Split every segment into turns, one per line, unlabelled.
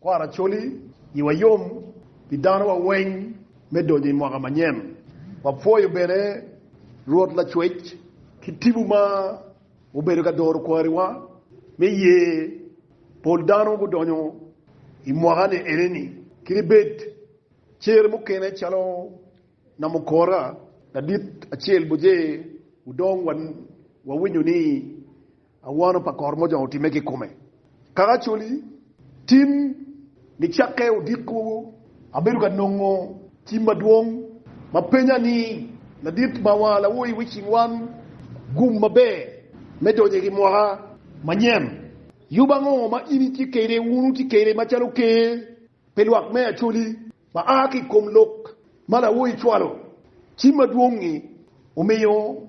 Kwaro Acholi, Iwa yom pi danowa weng me donyo i mwaka manyen. Wapwoyo bene Rwot Lacwec ki tipo ma obedo ka doro kwariwa me ye. Pol dano gudonyo i mwaka ni eneni ki libed cer mukene calo Namukora, ladit acel boje, udong wawinyo ni, Awano pa kor mojong otimme ki kome. Kaka Acholi tim nicakke odiko, abedo ka nongo tim madwong ma penya ni, Ladit ma wa lawo i wicing wan gum maber me donyo i gimwoka manyen? Yub ango ma in itye kede wunu tye kede macalo ker pe lwak me Acholi ma aa ki i kom lok ma lawo icwalo? Tim madwong-ngi omiyo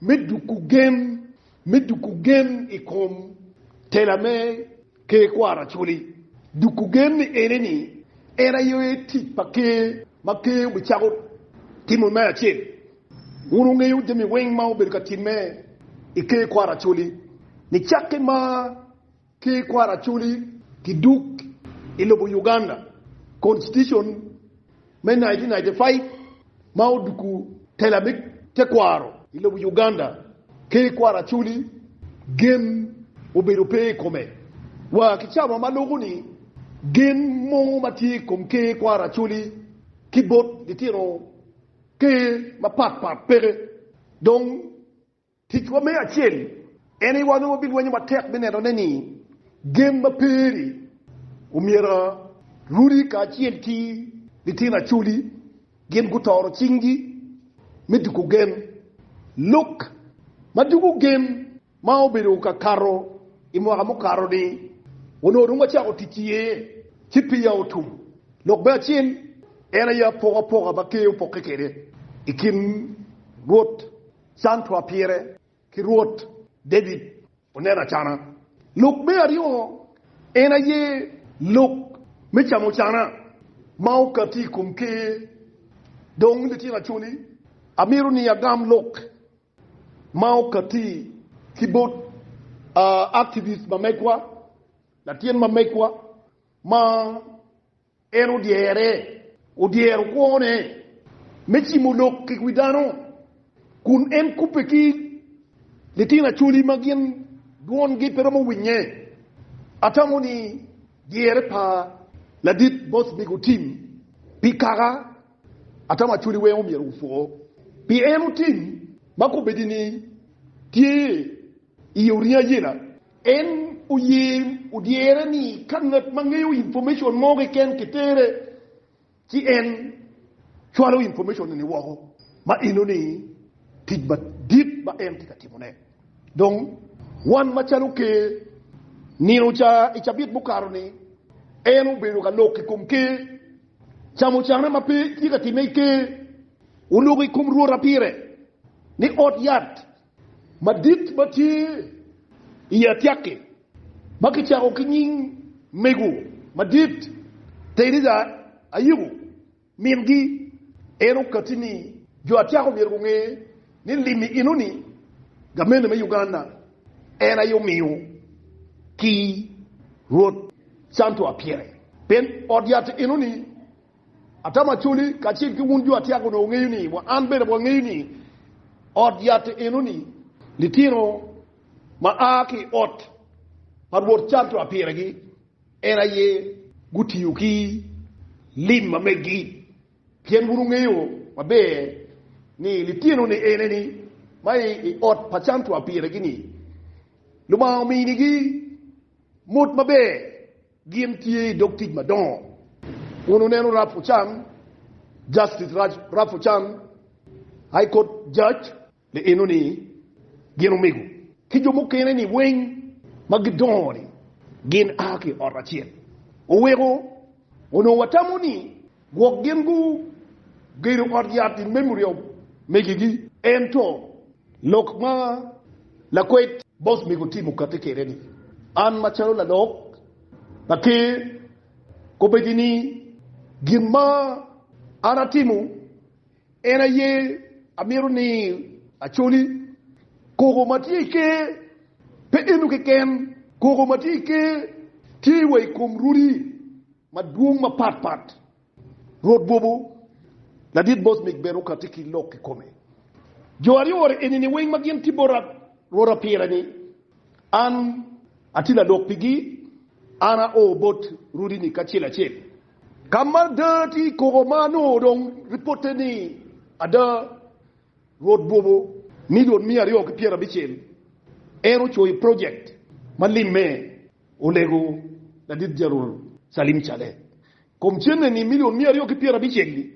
Me duku gem, Me duku gem i kom tela me Ker kwaro Acholi, duku gem ene ni en aye tic pa Ker ma Ker obicako timo me acel. Wun wungeyo jami weng ma obedo ka timme i Ker kwaro Acholi nicakke ma. ki i kwaro acholi. Ki duk i lobo Uganda, Constitution me nineteen ninety five ma oduku tela me tekwaro i lobo Uganda ki i kwaro acholi gen obedo pe i kome. Wa ki cawa ma loko ni, gen mogo ma tye i kom ker kwaro acholi ki bot litino ker mapat pat peke dong. Ticwa me acel en ni wanongo bilwenyo matek me nenone ni gen ma peri omyero runi kacel ki litino Acholi gin gutoro cinggi me duko gen. Lok ma duko gen ma obedo ka kato i mwaka mukato-ni onongo dong wacako tic iye ci peya otum. Lok me acel en aye apokapoka ma Ker opokke kwede i kin Rwot Cantwa pire ki Rwot David oneno acana. Lok me aryo en aye lok me camo cana ma okati i kom Ker. Dong litino acholi, amito ni agam lok ma okati ki bot activist ma megwa, latin ma megwa ma. En odyere, odyero kwone me cimo lok kik wi dano, kun en kubbe ki litino acholi ma gin dwongi pe romo winye. Atamo ni dyere pa Ladit Boothbig otim pi kaka atamo acholi weng omyero wupwo, pi en otim ma kubedini tye i oringo ayela. En oye odyere ni ka ngat ma ngeyo information mo keken kitere ci en cwalo information eni woko, ma enoni tic madit ma en tye ka timone. Dong wan macalo Ker, nino ca i cabit mukato ni en obedo ka lok i kom Ker, camo cane ma pe tye ka timme i Ker, oloko i kom Rwota pire ni ot yat madit ma tye i atyaki ma kicako ki nying mego madit Teresa Ayiko, mingi, en okatti ni jo atyaka omyero gunge ni lim i enoni gamente me Uganda en aye omiyo ki Rwot Santo Apyere pien ot yat enoni Atamo acoli kacel ki wun jo atyak onongo wungeyo ni, wa an bene wangeyo ni, ot yat enoni litino ma a ki i ot pa Rwot canto apiregi, en aye gutiyo ki lim ma meggi, pien wun wungeyo maber ni litinoni eneni ma i i ot pa canto apiregi-ni, Lubanga ominigi mot maber. Gin tye i dog tic madongo. Wun wuneno Ralph Ochan, Justice Ralph Ochan, High Court Judge. Ni eno ni gin omego ki jo mukene ni weng ma gidongo ni gin a ki i ot acel. Oweko onongo watamo ni Gwok gin gugedo ot yat i memory of megi gi. Ento lok ma lakwed boss mego Tim okati kede ni, an ma calo lalok pa ker kobedi ni gin ma an atimo. En aye amito ni acoli. Koko ma tye i Ker pe eno keken. Koko ma tye i Ker tye wa i kom rodi madwong mapat pat. Rwot Bobo, Ladit Bosmik bene okatti ki lok kikome. Jo aryo eni-ni weng ma gin tye bota Rwot apire-ni, an atye ladok pigi. An ao bot rodi-ni kacel acel. Ka ma ada tye i koko ma anongo dong ripotte ni ada Rwot bwobo milion miya aryo ki pyera abicel, en ocoyo project ma limme olego ladit Jeneral Salim Caleh kom cene ni milion miya aryo ki pyera abicel-li,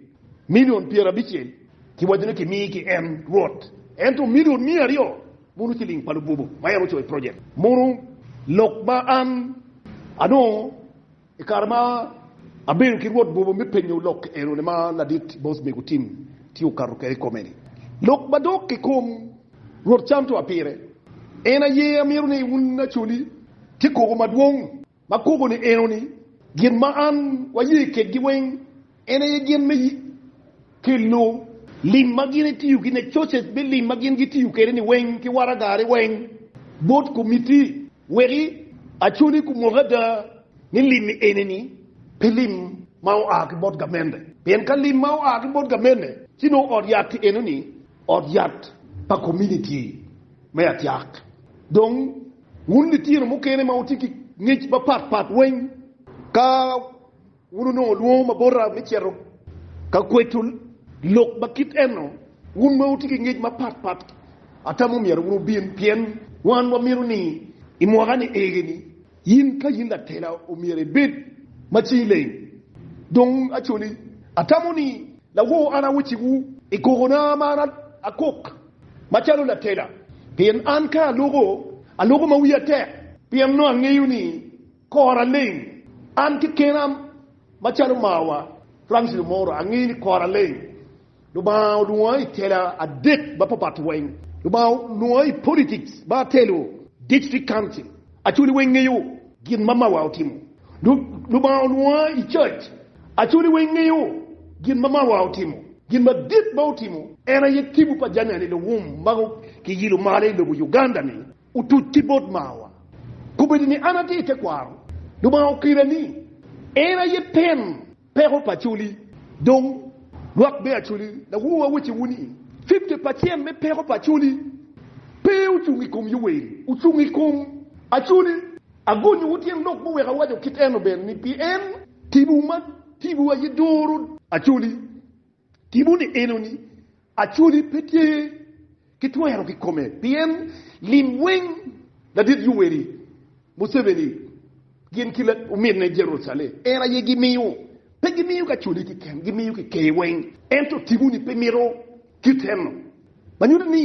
milion pyera abicel ki waco ni kimi ki en Rwot, ento milion miya aryo mono ciling pa lubwobo ma en ocoyo project mono lok ma an anongo. I kare ma abedo ki Rwot Bobo me penyo lok enoni ma ladit bos mego Tim tye okato kwede i kome-ni. Lok madok i kom Rwot Cham to apire. En aye amito ni wun acoli tye koko madwong ma koko-ni enoni, gin ma an waye kedgi weng. En aye gin me kelo. Lim ma gin etiyo ki ne coce me lim ma gin gitiyo kede ni weng ki waraga ni weng bot komiti weki aconi kumoko ada ni lim ni eni ni pe lim ma oa ki bot gamende pien ka lim ma oa ki bot gamende ci nongo ot yat ti eno ni ot yat pa kominiti me atyak dong wun litino mukene ma wuti ki ngec ma pat pat weng ka Wun wunongo lwongo ma bota me cito ka kweco lok ma kit eno. Wun ma wutye ki ngec mapat pat, atamo myero wun wubin, pien wan wamito ni i mwaka ni ege ni in ka in latela omyero ibed ma cingi leng. Dong acoli, atamo ni lawor an awecciwu i kokona ma an akok macalo latela, pien an ka aloko, aloko ma wiya tek, pien nongo angeyo ni Kora leng. An kekena macalo marwa Francis Lumoro angeyo ni kora leng. Lubanga olwonga i tela adek mapapat weng. Lubanga olwonga i politics me atelo district council. Acholi weng ngeyo gin ma marwa otimo. Lubanga olwonga i church. Acholi weng ngeyo gin ma marwa otimo. Gin madit ma otimo en aye tibu pa jami ane luwum ma kiyilo malo i lobo Uganda ni. Otuc ki bot marwa. Kobedo ni an atye i tekwaro, Lubanga okira ni en aye ten peko pa Acholi. Dong, lwak me Acholi, lawowa wacciwu ni, fifty pacen me peko pa Acholi pe ocung i kom Yoweri, ocung i kom Acholi. Agonyowu tyen lok ma oweko awaco kit eno bene ni, pien timwu man, timwu aye doro Acholi. Timo ni enoni actually pe tye ki twero ki kome pien lim weng ladit Yoweri Museveni gin ki ominne Jerucalem en aye gi miyo. Pe gi miyo kacoli kiken gi miyo ki ker weng ento timo ni pe mito kit eno manyuto ni.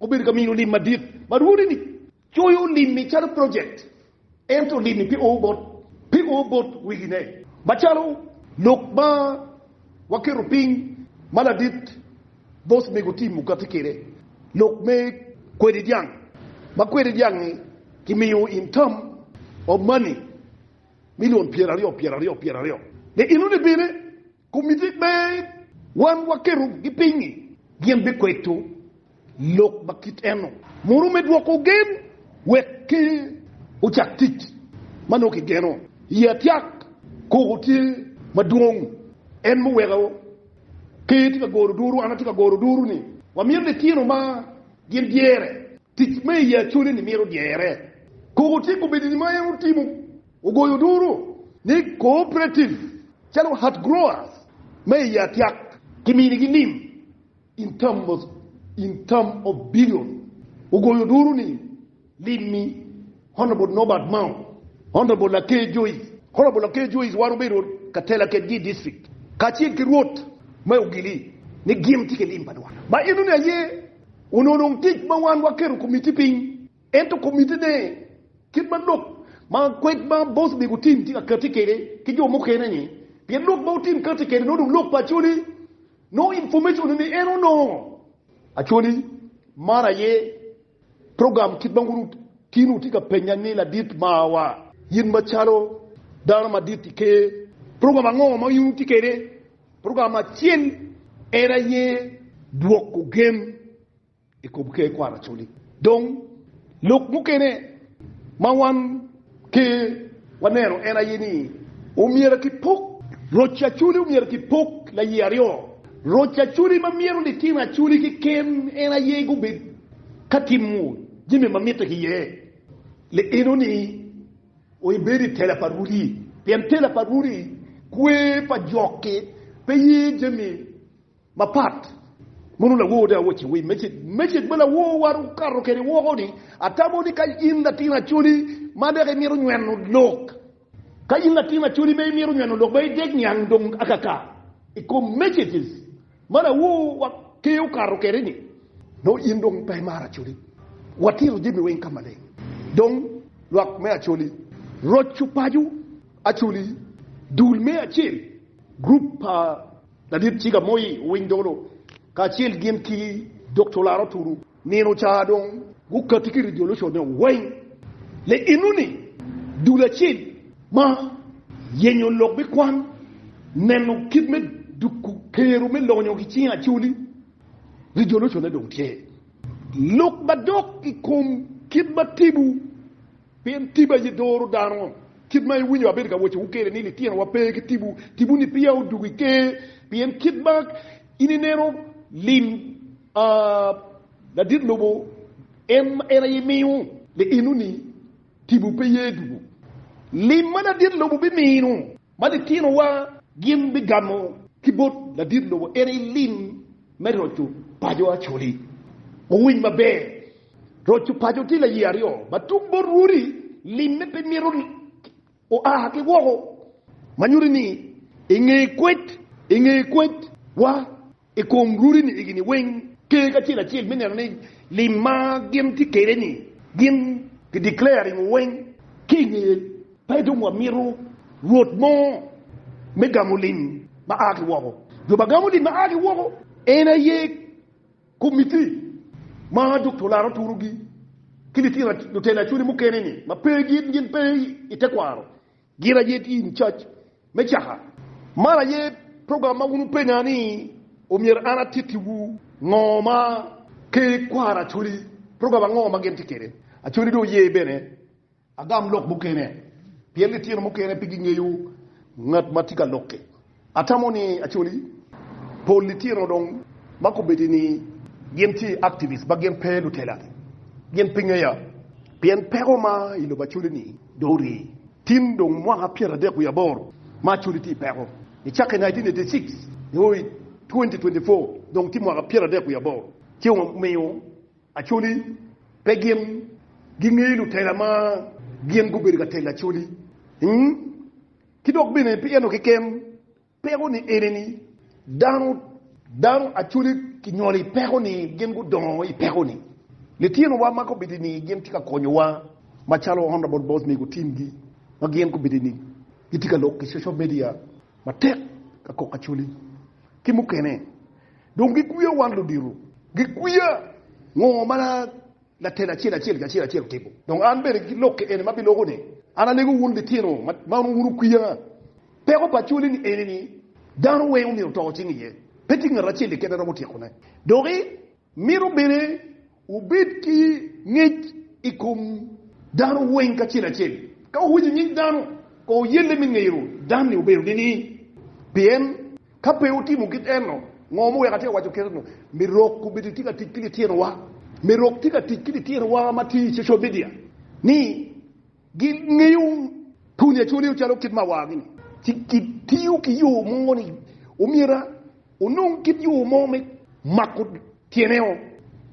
Obedo ka mino lim madit ma rwodini coyo limmi calo project, ento limmi pe oo bot pe oo bot wegine. Macalo lok ma waketo piny ma ladit bos mego Tim okatti kwede, lok me kwedi dyang, ma kwedi dyang-ngi kimiyo in term of money million pyeraryo pyeraryo pyeraryo ni inoni bine. Komitik me Wan Waketo Gi Piny-ngi gin bikweto lok ma kit eno muno me dwoko gen wek Ker ocak tic ma nongo kigeno iye. Atyak koko tye madwong, en muweko Ker tye ka goro duru. An atye ka goro duru ni wamito litino ma gin dyere tic me i acoleni mito dyere. Koko tye kobedini ma en otimo Ogoyo duru ni cooperative calo Heart Growers ma i Yatyak kiminigi nim in terms in term of billion. Ogoyo duru ni limmi Honourable Norbert Mao, Honourable Laker Joyce, Honourable Laker Joyce wan obedo ka tela kedgi i district kacel ki Rwot me Ogili ni gin tye ki lim pa dwan ma enoni aye ononong tic ma wan waketo committee piny. Ento komitine, kit ma lok ma kwed ma boss omego tim tye ka kati kede ki jo mukene ni, pien lok ma otim kati kede nongo dong lok pa acholi, nongo information ni ni en onongo acholi man aye program kit ma wun otino tye ka penya ni ladit mawa, in ma calo dano madit i ker, program ango ma in wutye kede, program acel en aye dwoko gen. i kom Ker Kwaracoli. Dong, lok mukene ma wan ki waneno en aye ni omyero kipok roc Acoli omyero kipok laye aryo. Roc Acoli ma myero litino Acoli keken en aye gubed ka timo jami ma mitte ki iye. Le enoni oibedo i tela pa Rudi, pien tela pa Rudi kwer pa jok-ki pe ye jami. Mapat. Mono lawor de awoc i wi meceg ma laworwa okato kwede woko ni, Atamo ni ka in latin acholi ma dek imito nyweno lok, ka in latin acholi ma imito nyweno lok ma idek niang dong akaka i kom meceg ma laworwa Ker okato kwede ni, nongo in dong pe imaro acholi. Watito jami weng ka maleng. Dong, lwak me acholi, roco paco acholi, dul me acel, gurup pa. Ladit Ciga Moi owiny dolo kacel gin ki Dokta Olaro Turu. Nino ca dong gukati ki resolution ne weng le enoni dul acel ma yenyo lok me kwan neno kit me duku kero me lonyo ki cing Acholi. Resolution ne dong tye lok madok i kom kit ma tibu. Pien tibi aye doro dano. Kit ma iwinyo abedo ka wacciwu kwede ni litinowa pe ki tibu, tibuni peya odwogo i ker. Pien kit ma in ineno lim a ladit lobo, en aye imiyo liino-ni, tibu pe ye dwogo lim ma ladit lobo bimino. Ma litinowa gin bigamo ki bot ladit lobo en aye lim me roco paco Acholi. Wuwiny maber, roco paco tye laye aryo ma tung bot rwodi, limme pe mito oa ki woko ma nyuto ni inge kwed, inge kwed wa I kom runi egi-ni weng, ter acel acel me neno ni lim ma gin tye kwede-ni gin ki declare ringo weng ki i ngeye pe dong wamito rwot mo me gamo lim ma a ki woko. Jo ma gamo lim ma a ki woko en aye komitti ma dok tulato turogi ki litino lutela cwiny mukene-ni ma pe gin pe i tekwaro. Gin aye tye in cac me caka. Man aye program ma wun wupenya ni omyero an atittiwu. Ngo ma ki kwaro Acholi? Program ango ma gin tye kede? Acholi dong oye bene. Agam lok mukene pien litino mukene pe gingeyo ngat ma tye ka lokke. Atamo ni Acholi pol litino dong ma kobedo ni gin ce activists ma gin pe lutela gin pe ngeya pien peko ma i lobo Acholi ni dong orye. Tin dong mwaka pyeradek wiye aboro ma Acholi tye i peko. Nicako i nineteen eighty six nio i twenty twenty four dong tye mwaka pyeradek wiye aboro ci omiyo Acholi pe gin gingeyo lutela ma gin gubedo ka telo Acholi. Ki dok bene pi eno keken, peko ni ene ni, dano, dano actually kinyolo i peko ni, gin gudongo i peko ni. Litino wa ma kobedo ni gin tye ka konyo wa macalo Honourable Boss Mego team gi ma gin kobedo ni gitye ka lok i social media matek ka kok actually ki mukene dong gikwiya wan ludito, gikwiya ngo ma Latin acel acel ki acel acel otimo. Dong an bene ki lokke eni ma biloko ni, an alego wun litino ma onongo wun wukwiya. Peko pa cwali ni eni ni, dano weng omyero oto cing iye, pe tye ngat acel keken a romo tyekone. Dok i mito bene wubed ki ngec i kom dano weng kacel acel. Ka wuwinyo nying dano, kowu yelle me ngeyo dan-ni obedo nining? Pien. Ka pe wutimo kit eno, ngo ma weko atye ka waco kene-nu? Mi rok obedo itye ka tic ki litinowa. Mi rok tye ka tic ki litinowa ma tye i social media ni gingeyo pwony Acoleo calo kit ma awagi ni, ci gitiyo ki yo mo ni omyera onong kit yo mo me mako tyene-o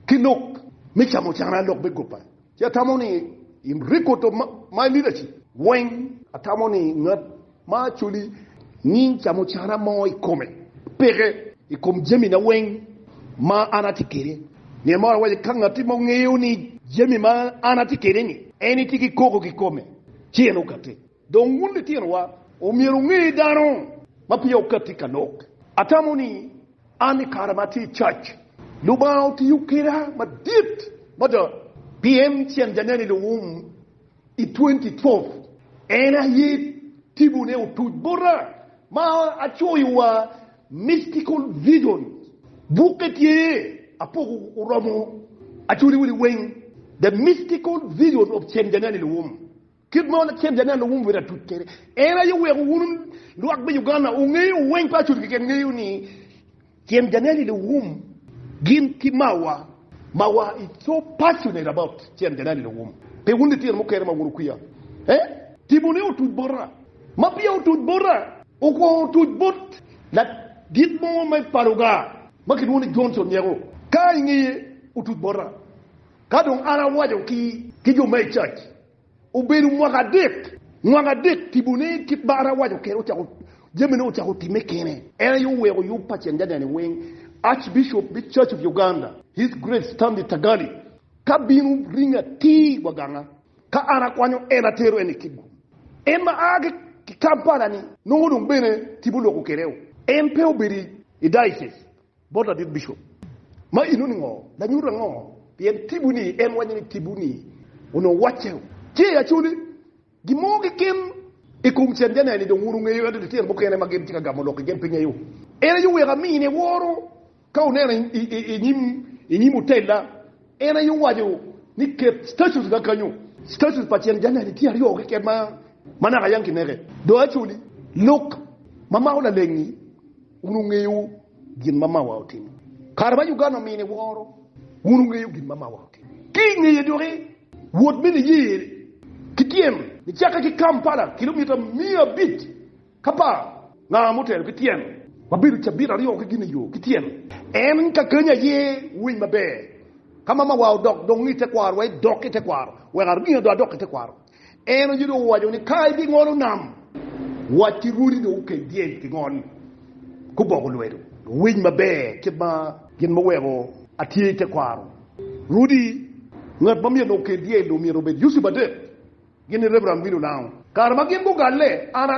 ki lok me camucana lok me gobba. Ci atamo ni in rik oto ma i lidaci weng. Atamo ni ngat ma acoli nying camo cana mo i kome peke i kom jamina weng ma an atye kwede. Nyen maro awaco ka ngatti mo ngeyo ni jami ma an atye kwede-ni en tye ki koko ki kome ci en okatte. Dong wun litinowa, omyero wunge ni dano ma peya okatti ka lok, atamo ni an i kare ma atye i cac, Lubanga otiyo keda madit mada pi en cen janen i luwum i twenty twelve. En aye tibone otuc bota ma acoyo wa Mystical Visions. Bukke tye apoko oromo acoli wili weng, The Mystical Visions of Cen Janen i Luwum. Kit ma Laken Janel nongo omyero atut kwede en aye weko wun lwak me Uganda wungeyo weng pa Acudu keken ngeyo ni Ken Janel i Luwum gin ki mawa, mawa is so passionate about Ken Janel i Luwum pi wun litino mukene ma wun wukwiya eh tipo ni otuc bota ma peya otuc bota okwongo otuc bot ladit mo me pa Lugar ma kilwongo ni Johnson Nyeko ka ingeye otuc bota ka dong an awaco ki jo me Church Obedo mwaka adek. Mwaka adek tibone kit ma an awaco kwede ocako jamine ocako timme kene. En aye oweko yub pa Cengagane weng, Archbishop me Church of Uganda, His Grace Stanley Tagali ka bino ringo atir wa ganga ka an akwanyo en atero en i Kitgum. En ma a ki Kampala ni nongo dong bene tipo oloko kwede o. En pe obedo i diocese Bot ladit bicop ma inoni ngo lanyut ango pien tibu ni en waco ni tibu ni onongo wacce tye i Acholi gin mo keken i kom canja ne ni dong wun ongeyo ento litino mukene ma gin tye ka gamo lok i gen pe ngeyo en aye oweko amine woro ka oneno i, i, i nyim i nyim otella en aye owaco ni ket statues ga kanyo statues pa canja ne ni tye aryo keken ma ma naka yang kineke do Acholi lok ma mako lalengi Wun wungeyo gin ma mawa otimo. Kare ma Uganda omine woro, wun wungeyo gin ma mawa otimo. Ki i ngeye doki, wot me niye ki tyem. Nicakke ki Kampala, kilomita miya abic k'apar nga motelo ki tyem. Wabedo cabit aryo ki gin i yo ki tyem. En ka kany aye winy maber. Ka ma mawa odok dong i tekwaro, wa idok i tekwaro. Wek aringa dong adok i tekwaro. En oye dong owaco ni, Ka ibingolo nam, wac ki rwodi dong okel dyel ki ngol, guboko lwedo. Luwiny maber kit ma gin muweko atye i tekwaro rwodi. Ngat ma myero okel dyel dong myero obed Yusuf adek, gin ni Reverend Willie Olango. Kare ma gin gugalle, an a.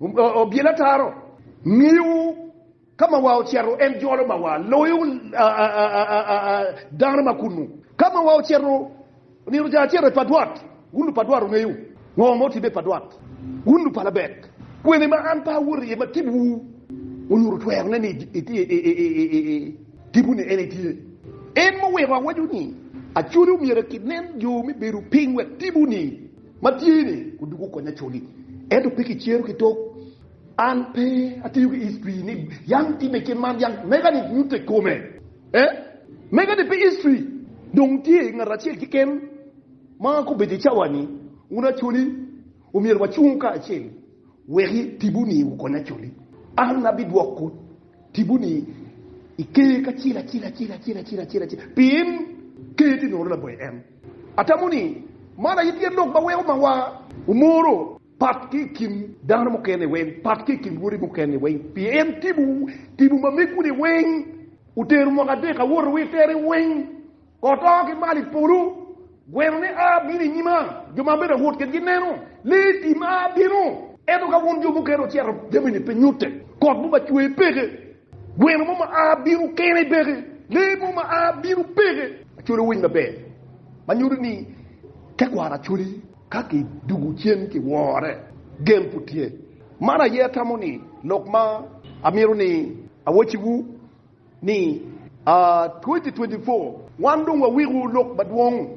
Obyelo ataro, ngiyo ka ma wa ocito en jolo ma wa loyo dano ma kunnu. Ka ma wa ocito nino ocako acito i padwat, wun lupadwat wungeyo ngo ma otimme i padwat. Wun lupalabek, kwene ma an pe awoto iye ma tibwu onyuto twerone ni tipwu-ni en aye tye. En muweko awaco ni, Acwali omyero akit nen yo me bedo piny wek tipwu-ni Matye-ni odwogo okonya coni, ento pe kicero ki tok. An pe atiyo ki history ni yam time kit man yam mega-ni nyutte kome. Eh, mega-ni pe history. Dong tye ngat acel keken ma ka obedo i cawa-ni, wun acoli omyero wacung kacel wek tibu-ni wukony acoli. An abidwoko tibu-ni i ker acel acel, pien ker tye nono laboyo en. Atamo ni man aye tye lok ma weko mawa omoro pat ki i kin dano mukene weng, pat ki i kin woti mukene weng, pien tipo tipo ma megu-ni weng otero mwaka adek awoto wi tere weng, kot oo ki malo i polo, gwenone a bino i nyima, jo ma abedo awot kedgi neno, lee tim a bino. Ento ka wun jo mukene wucito, jami-ni pe nyutte, kot mogo ba cwer peke, Gweno mo ma a bino kene peke. Lee mo ma a bino peke. Acoli owiny maber ma nyuto ni tekwaro acoli ka ki dugu cen ki wore gen pud tye. Man aye atamo ni lok ma amito ni awaci wu ni a 2024 wan dong wa wiko lok madwong.